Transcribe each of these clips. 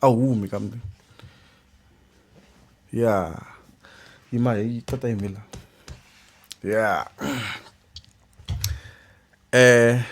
a wu humi kambe ya yima hi tata yime la ya eh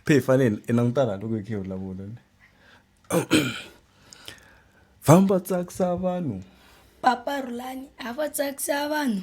phe hi fanele hi langutana loko hi khe hi vulavula ni famba tsakisa vanhu papa rhulani a va tsakisa vanhu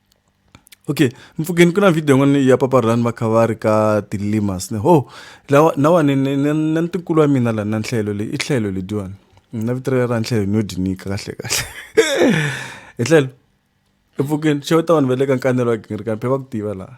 okay mpfhukeni ku na video yin'wana ya papa rani va kha va ri ka tilimas ni ho lawa nawa ni ni ni ni ntikulu wa mina la na nhlelo leyi i tlhelo lediwani na vito ra nhlelo ni yo dyi nyika kahle kahle hi tlhelo mpfhukeni xeweta vanhu va le ka nkanelo wa gingirikani phe va ku tiva laha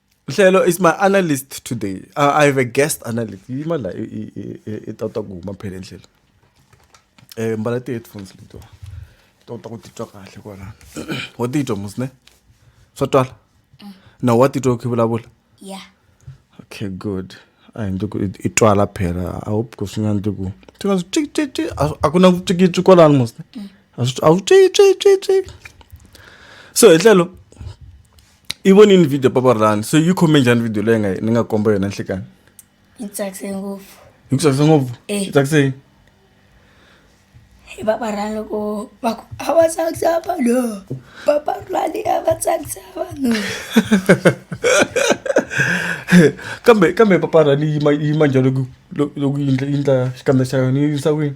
Hlelo is my analyst today. Uh, I have a guest analyst. Imala itawuta ku huma phela endlelo. Eh mbala ti headphones lito. Tawuta ku titwa kahle kwala. Wa titwa musne? Swa twala? Mm. Na wa titwa ku vulavula? Yeah. Okay, good. A hi ndluku i twala phela. I hope ku swi nga ndluku. Ti nga twi twi twi a ku na ku twi twi kwala musne. Mm. A swi a swi twi twi twi twi. So hlelo i vonini video papa rani so yi khome njhani video leyi nga ni nga komba yona nhlikani yi tsakise ngopfu yi ku tsakise ngopfu eh. yi tsakise yini papa rani loko va ku a va tsakisa vanhu papa rani a va tsakisa vanhu kambe kambe papa rani yi ma yi ma njhani loko loko yi ndla yi ndla xikambe xa yona yi yisa kwini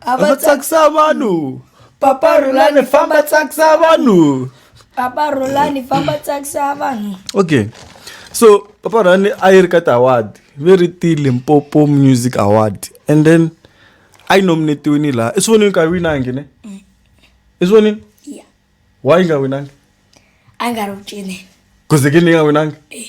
a va tsakisa vanhu papa rhulani famba tsakisa vanhu papa rhulani famba tsakisa vanhu okay so papa rhulani a yi ri ka ti-award ve ri ti-limpopo music award and then a yi nominetiwini laha i swi vonini ka winangi ne mm. i swi vonini yeah. why yi nga winangi a yi nga ri ku cineni kuzekini yi nga winangi eh.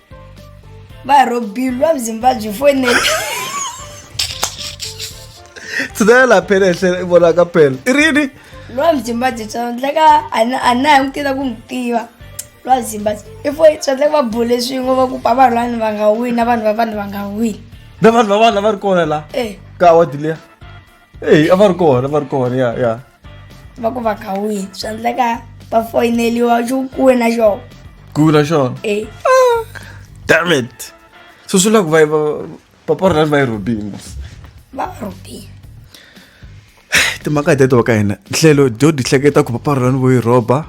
ba robi lwa bizimba jifonele tshudela la phela ehle vona ka phela i rini lwa bizimba jitswa ndla ka a na hi n'wi tiva ku n'wi tiva lwa bizimba i fo swa ndla va bule swin'we va ku pa vanhu vanhu va nga wini na vanhu va vanhu va nga wini na vanhu va vanhu lava ri kona la eh. ka awadi leya eyi a va ri kona va ri kona ya ya va ku va kha wihi swi endleka va foyineliwa xo kuna xona kuna xona e ah, damn it so swi la ku va va paparolani va yi rhobini va va rhobini timhaka teto ka hina nhlelo dyo di hleketa ku paparolani vo yi rhoba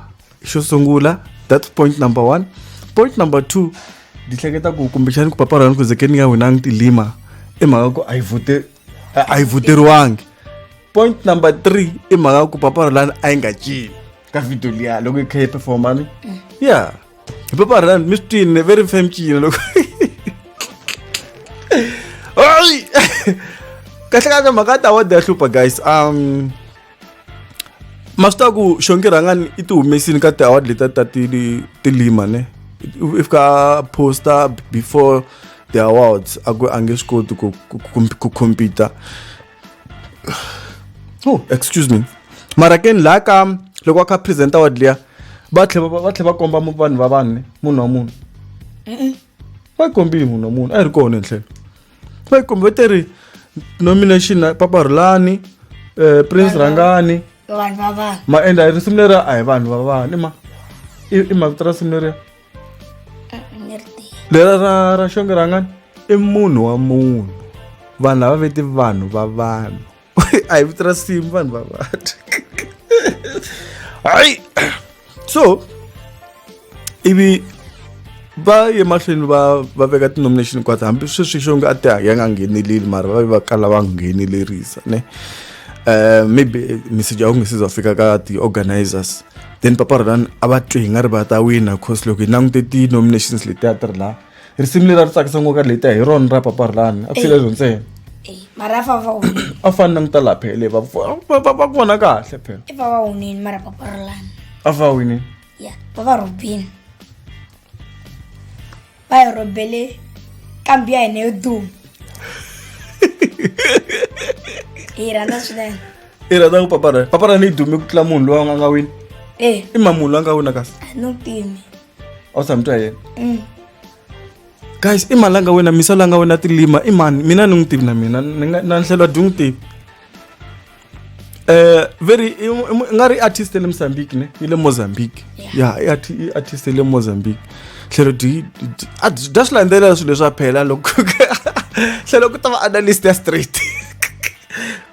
xo sungula that's point number one point number two di hleketa ku kumbexani ku paparolani ku zekeni ya wena ngi tilima i mhaka ku a yi vote a a yi vuteriwangi point number three i mhaka ku papara lani a yi nga cini ka video liya loko yi kha yi performa ni ya hi papara lani mi swi twini very fam cina loko Ai! kahle kahle mhaka ta wode ya hlupha guys um ma swi tiva ku xonge rhangani i ti humesini ka ti-award letiya ta tilima ne if ka posta before the awards a ku a nge swi koti ku ku compete oh excuse me mara ke ni laha ka loko a kha present award liya va tlhe va tlhe va komba vanhu va vanhu ne munhu wa munhu va yi kombile munhu wa munhu a yi ri kona hi tlhelo Pai kumbe va te ri nomination na Papa Rhulani, eh, Prince Rhangani, vanhu va vanhu ma endla risimu leri a hi vanhu va vanhu ma i i mavito ra simu leriya ni ri tivi lera ra ra xonge rhangani i munhu wa munhu vanhu lava veti vanhu va vanhu a hi vito ra simu vanhu va vata hayi so ivi va ye mahlweni va va veka ti-nomination kwati hambi sweswi xo nge a ti ya nga ngheneleli mara va ve va kala va nghenelerisa ne um maybe message a wu nge se za fika ka ti-organizers then papa rolan a va twi hi nga ri va ta wina cause loko hi langute ti-nominations letiya ti ri laha risimu leri a ri tsakisa ngopfu ka leti hi rona ra papa rilani a ku sile ro ntsena a fani na ngita lapha le va va vona kahle phela i vava wunini mara papa rilani a va winini ya vava robini va yi robele kambi ya hina yo duma hi rhandza swinene i rhandza ku papa rani papa rani yi dume ku tlula munhu loyi a nga nga wini e i ma munhu loyi a nga wina kasi a no pimi awusamtwa yena eh. guys i mani la nga wena misa la nga wena tilima i mani mina ni n'wi tivi na mina na nhlelo dyi n'wi tivi um very i nga ri artist le mozambique ne yi le mozambique ya i artist le mozambique tlhelo dyi dya swi landzelela swilo leswi a phela loko tlhelo ku ta va analyst ya straight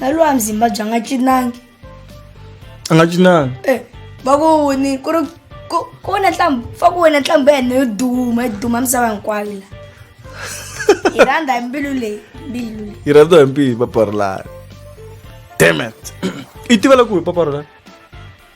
na loyi a mzimba bya nga cinangi a nga cinangi e va ku ni ku ri ku wona ntlhambu fa ku wena ntlhambu ya hina yo duma yi duma misava hinkwayo la yi rhandza hi mbilu leyi mbilu leyi yi rhandza hi mbilu paparulani demet i tiva la ku hi paparulani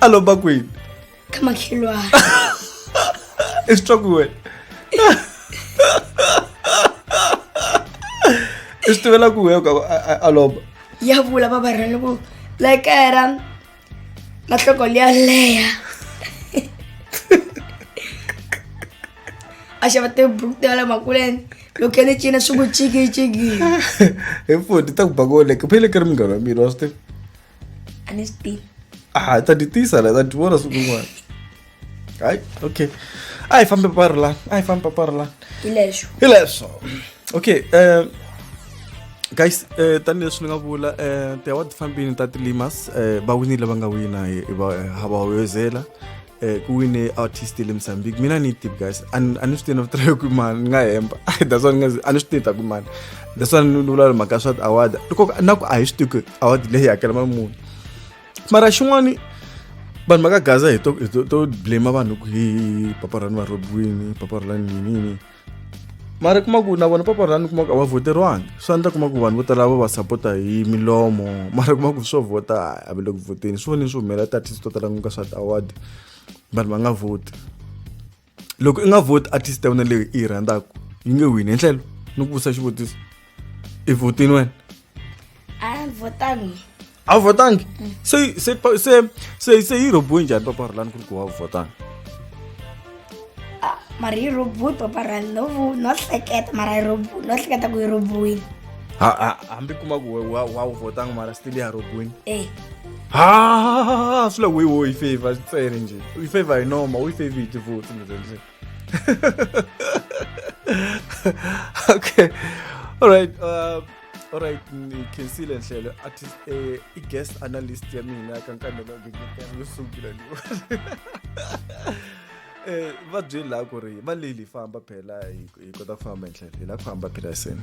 a lomba kwini ka makhelwana i swi twa ku wena i swi tivela ku wehe a lomba ya vula babarhani ku la kaya ra matloko liya leya a xava tiburuku ti ya le makuleni loko ya ni cina swi ku cikiciki hi futhi ta ku bakoleke phele ka ri munghana wa mina wa swi tiva a ni swi tivi a ta ti tisa la ta ti vona siku rin'wana Ai, ok. Ai, fammi parlare, ai, fammi parlare. Hilesho. Hilesho. Ok, eh, guys eh, tanihileswi ni nga vula eh, tiaward ti fambini ta tilimas eh, va winile lava nga wina ha va hoyozela eh, ku wine artist le mozambique mina ni tivi guys a ni swi tivi na vitirha ku mani ni nga hemba that's why a ni swi tivi ta ku mani that's why ni vula mhaka swa ti-award loko na ku a hi swi tivi ku award leyi hakela mali muni mara xin'wani vanhu va ka gaza hi to to blame vanhu ku hi papa rani va robiwini papa rani yini yini mara kuma ku na vona papa rani kuma ku a va voteriwangi swi endla kuma ku vanhu vo tala va va sapota hi milomo mara kuma ku swo vota a va le ku voteni swi vonini swi humelela ti-artist to tala ku ka swa ti-award vanhu va nga voti loko i nga voti artist ya wena leyi i yi rhandzaka yi nge wini hi ndlela ni ku vutisa xivutiso i votini wena a votangi a wu votangi se se se se se yi robiwe njhani papa rhulani ku ri ku wa votangi mara yi robiwe papa rhulani no vu no hleketa mara yi robiwe no hleketa ku yi robiwile hambi kuma ku wa wa wu votangi mara still ya robiwini e Ah, swi la wehe wo yi favor ntsena njhe u yi favor hi noma u yi favor hi tivoti ndzi ndzi okay all right uh, all right ngikhensile nhlelo athi eh, i-guest analyst ya mina kankandela ngengetela yo sungula ni eh va byeli la ku ri va leli famba phela hi kota ku famba hi ndlela hi la ku famba phela seni